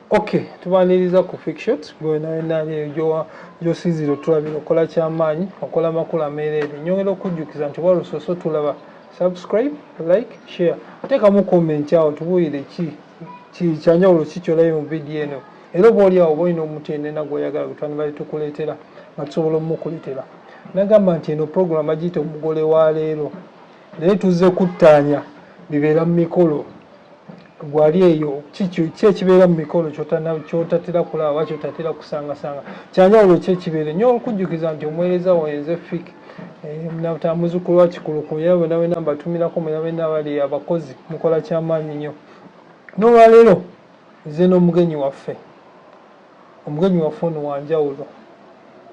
ok tubaniriza ku fikshot gwenaenaaliyo gyosinzira otulabira okola kyamaanyi okola makulu ameereere nyongera okujjukiza nti walusoose otulaba subscribe like share teekamu comment awo tubuulire ki kyanjawulo ki kyolabe mu vidiyo eno era oba oli awo oba olina omutendena gweoyagala gwetwandibale tukuleetera nga tusobola omukuletera nagamba nti eno puroguramu bagiyita omugole wa leero naye tuzze kuttaanya bibeera mu mikolo gwali eyo ki ekibeera mu mikolo kyotatera kulaba oba kyotatera kusangasanga kyanjawulo ki ekibeere nyo olukujjukiza nti omuweereza waenze fik eh, muzukulu wa kikuluku era bwena bwena mbatumirako mwena bwena bali abakozi mukola kyamaanyi nnyo n'olwaleero nze n'omugenyi waffe omugenyi waffe ono wanjawulo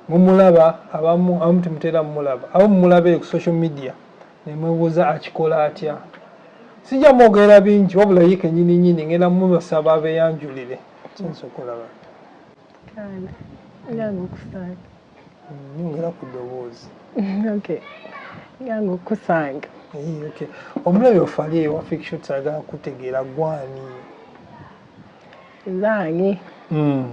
mumulaba abamu abamu temutera mumulaba abamu mumulaba eyo ku social media nemwebuuza akikola atya sijja mwogerera bingi wabula ye kenyini nyini ngenda mubasaba abeyanjulire kyenza okulaba nyongera ku ddoboozi okukusanga omulabi ofali ewa fiction sagala kutegeera gwani zange hmm.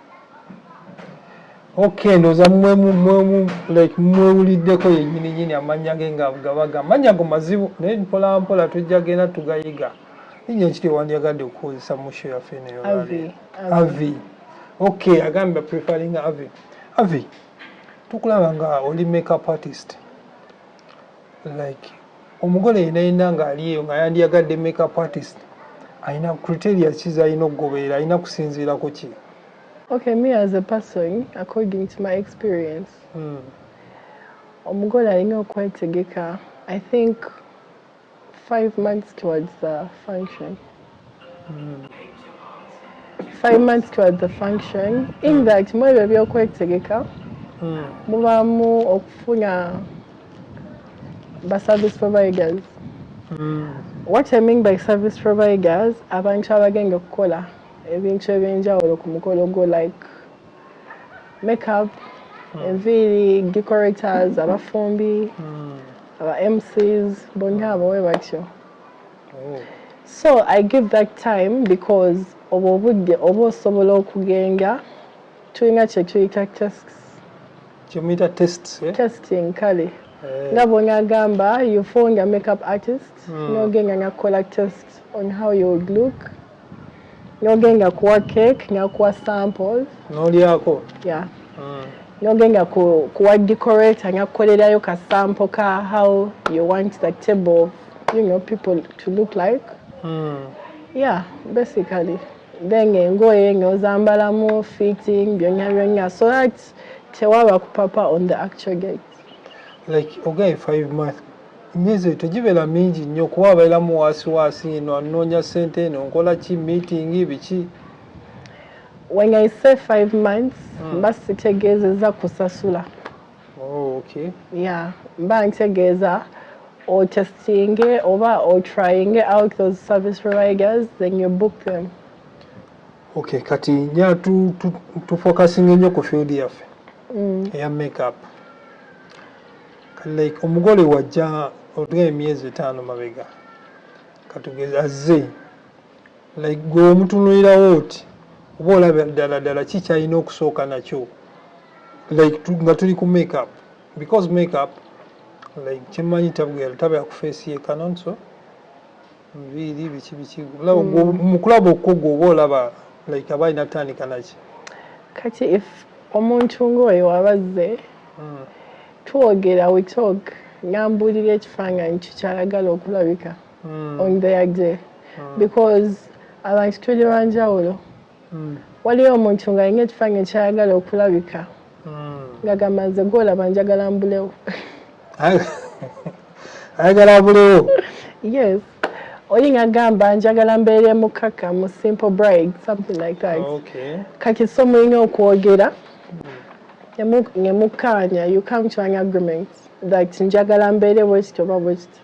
okay ndoza mwe mwe like mwe uliddeko yenyini nyini amanya ge nga gabaga amanya go mazibu ne mpola mpola tujja gena tugayiga inye nkiri wandi agade kukozesa musho ya fene yo avi avi okay agamba preferring avi avi tukulaba nga oli makeup artist like omugole yena yena nga aliyo nga yandiyagadde makeup artist alina criteria ki zalina okugoberera alina kusinziira ku ki okay me as a person according to my experience hmm. omugole alina okwetegeka i think Five months towards the function. Mm. Five months towards the function. In mm. that, mwe byo byokwetegeka. Mm. Mubamu okufuna ba service providers. Mm. What I mean by service providers, abantu abagenda okukola ebintu ebyenjawulo ku mukolo gwo like makeup, hmm. enviiri, decorators, abafumbi. Mm. aba mcs bonna abo we batyo oh. so i give that time because obwo obudde oba osobola okugenga tulina kyetuyita tests kyemuyita test eh? testing kale eh. nga bwonagamba you found a makeup artist mm. nogenda nakukola test on how you would look Noge nga kuwa cake nga kuwa samples. Nolyako? Yeah. Mm. Noge nga ku, kuwa decorate nga kukolerayo ka sample ka how you want the table, you know, people to look like. Mm. Yeah, basically. Then engoye nga ozambalamu fitting byonya byonya so that tewaba kupapa on the actual gate. Like ogaye five months emyezi eyo tegibeera mingi nnyo kuba abairamu waasiwaasi eno anoonya ssente eno nkola ki miitingi biki when i say five months hmm. mba sitegeezeza kusasula oh, okay. ya mba ntegeeza otestinge oba otryinge out those service providers then you book them okay kati nya tufokasinga ennyo ku field yaffe mm. eya makeup like omugole wajja otugaye emyezi etaano mabega katugeze azze like gwe omutunulirawo oti oba olaba ddala ddala ki kyalina okusooka nakyo like nga tuli ku makeup because makeup like kyemmanyi tabwera tabera ku feesi ye kanonso nviiri biki biki mm. mukulaba okukogwa oba olaba like aba alina kutandika naki kati if omuntu ngaoyo wabazze mm. twogera we talk nambuulira ekifaananyi kikyayagala okulabika mm. on their day because abantu tuli banjawulo hmm. waliyo omuntu nga alina ekifaanyi ekyayagala okulabika hmm. nga gamba nze gwolaba njagala mbulewo ayagala mbulewo yes oli nga gamba njagala mbeere mukaka mu simple bride something like that kati so mulina okwogera hmm. nemukkaanya you come to an agreement that njagala mbeere bwekityo oba bwekityo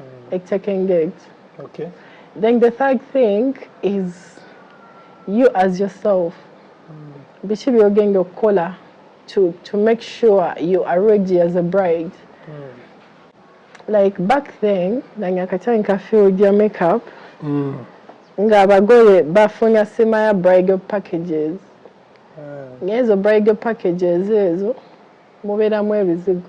mm. ek taking it okay. then the third thing is you as yourself mm. biki byogenda okukola to, to make sure you are ready as a bride mm. like back then nange akatani ka field ya makeup mm. nga abagole bafunya sima ya bridal packages mm. ngezo bridal packages ezo mubeeramu ebizigo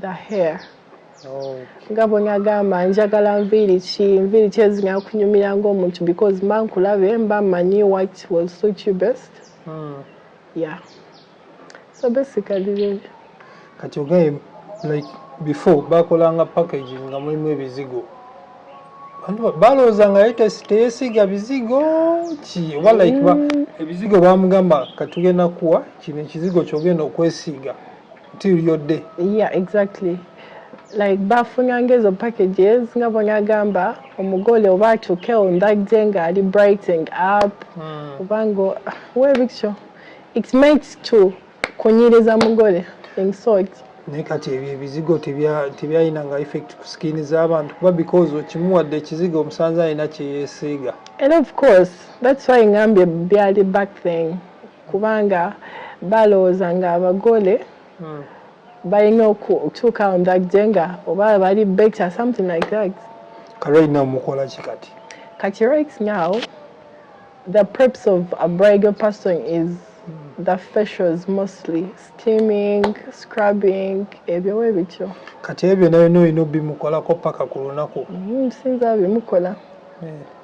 the hair nga bwe ngagamba njagala nviiri ki nviiri ki ezinyala kunyumira ngaomuntu because mba nkulabe mba manyi what will suit you best hmm. yeah so basically really kati ogaye like before bakolanga package nga mulimu ebizigo balowooza nga teyesiga bizigo ki oba like hmm. ebizigo bamugamba katugenda kuwa kino ekizigo kyogenda okwesiiga till your day yeah exactly like bafunyanga ezo packages nga bwenagamba omugole oba atuuke on that day nga ali brighting up hmm. oba ngo webityo it meant to kunyiriza mugole in sort naye kati ebyo ebizigo tebyalina nga effect ku skin z'abantu kuba because okimuwadde ekizigo omusanze alina kyeyesiiga and of course that's why ngambye byali back thing kubanga balowooza nga abagole balina okutuuka on that day nga oba bali better something like that ka right now mukola ki kati kati right now the preps of a bridal person is the facials mostly steaming scrubbing ebyo we bityo kati ebyo nayo byonna olina obimukolako paka ku lunaku mm, sinza bimukola yeah.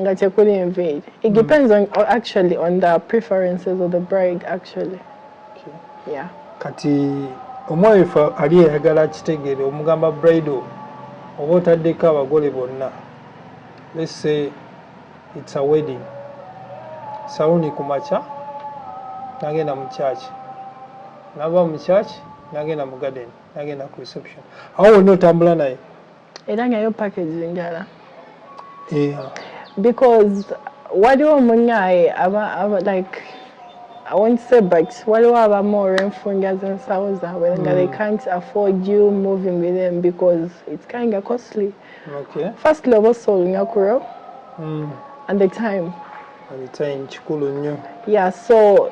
nga tekuli enviiri it depends on or actually on the preferences of the bride actually okay. yeah. kati omwami fe ali eyagala kitegeere omugamba brido oba otaddeko abagole bonna let's say it's a wedding saluni ku makya nagenda mu church nava mu church nagenda mu garden nagenda ku reception awo wonna otambula naye Era nga yo package ndala. Yeah. Because waliwo omunyaye aba, aba like I won't say but waliwo abamu olw'enfunda z'ensawo zaabwe nga they hmm. can't afford you moving with them because it's kind of costly okay. firstly oba osoolina kuro mm. and the time and the time kikulu nnyo yeah so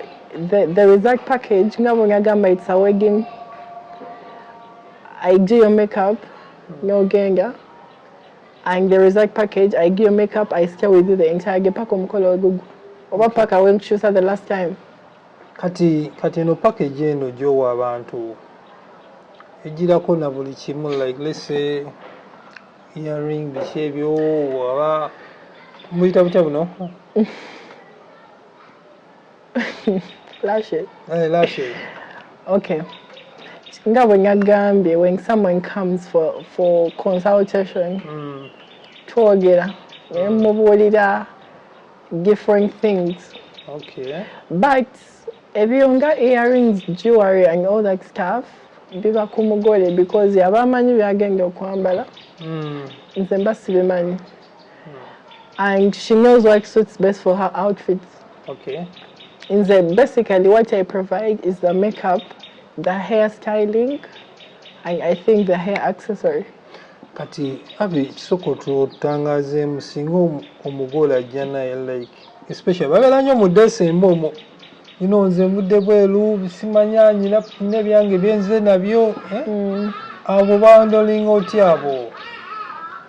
the, the result package nga bwe ngagamba it's a wedding I do your makeup no genga and the result package I do your makeup I stay with you the entire day paka omukolo ogugu oba paka we nkukyusa the last time kati kati eno package eno gyowa abantu ejirako na buli kimu like let's say earring biki ebyo aba muyita butya buno lashes eh lashes okay nga bwe ngagambye when someone comes for, for consultation mm. twogera naye mm. mubuulira different things okay. but ebyo nga earrings jewelry and all that stuff biba ku mugole because yaba amanyi byagenda okwambala mm. nze mba sibimanyi and she knows what suits best for her outfits. Okay. In the basically what I provide is the makeup, the hair styling, and I think the hair accessory. kati abi kisoko tutangazeemu singa omugole ajja naye like especially babeera nnyo mu desemba omwo ino nze mvudde bweru simanya nyina nina ebyange byenze nabyo eh? mm. abo bandolinga otya abo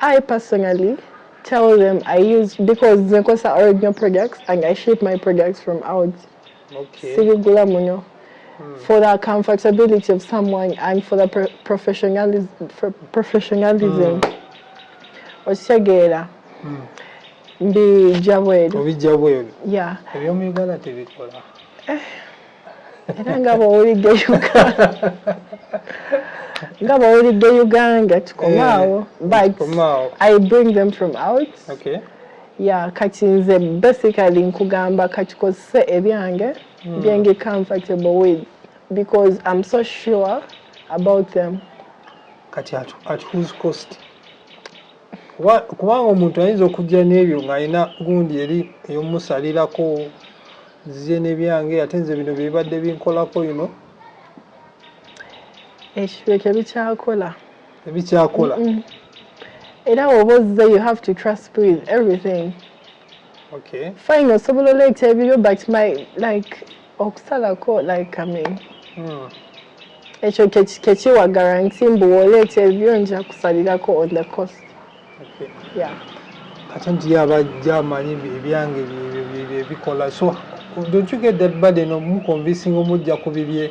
I personally tell them I use because zenkosa original products and I ship my products from out. Okay. Sibigula muno. Hmm. For the comfortability of someone and for the pro professionalism, for professionalism. Mm. Osegera. Mm. Mbi jabweru. Obi jabweru. Yeah. Ebyo muyugala tebikola. Eh. era nga bwowulidde nga bwowulidde uganda tukomaawo eh, but i bring them from out okay. ya kati nze basically nkugamba katukozese ebyange hmm. byengi comfortable with because i'm so sure about them kati at, at whose cost kubanga omuntu ayinza okujja n'ebyo ng'alina gundi eri ey'omusalirako nzize n'ebyange ate nze bino byebibadde binkolako yuno ekyo bikyakola ebikyakola era woba ozze you have to trust with everything okay fine osobola oleeta ebiryo but my like okusalako like i mean hmm. ekyo kekiwa garanti mbu woleeta ebiryo nja kusalirako on the cost okay. yeah kati nti abajja amanyi ebyange byebikola so don't you get that burden omuconvincing omujja ku bibye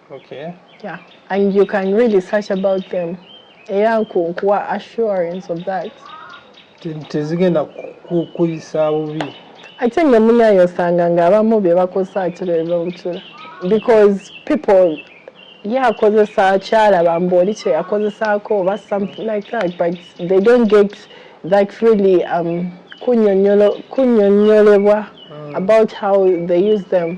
Okay. Yeah. And you can really search about them. Era nkuwa assurance of that. Tezigenda kukuyisa bubi. Ate nga munayo osanga ng'abamu bye bakozesa akira bye babucula. Because people ye akozesa kyalaba mbu oli kye yakozesaako oba something like that but they don't get that really um, kunyonyolebwa mm. about how they use them.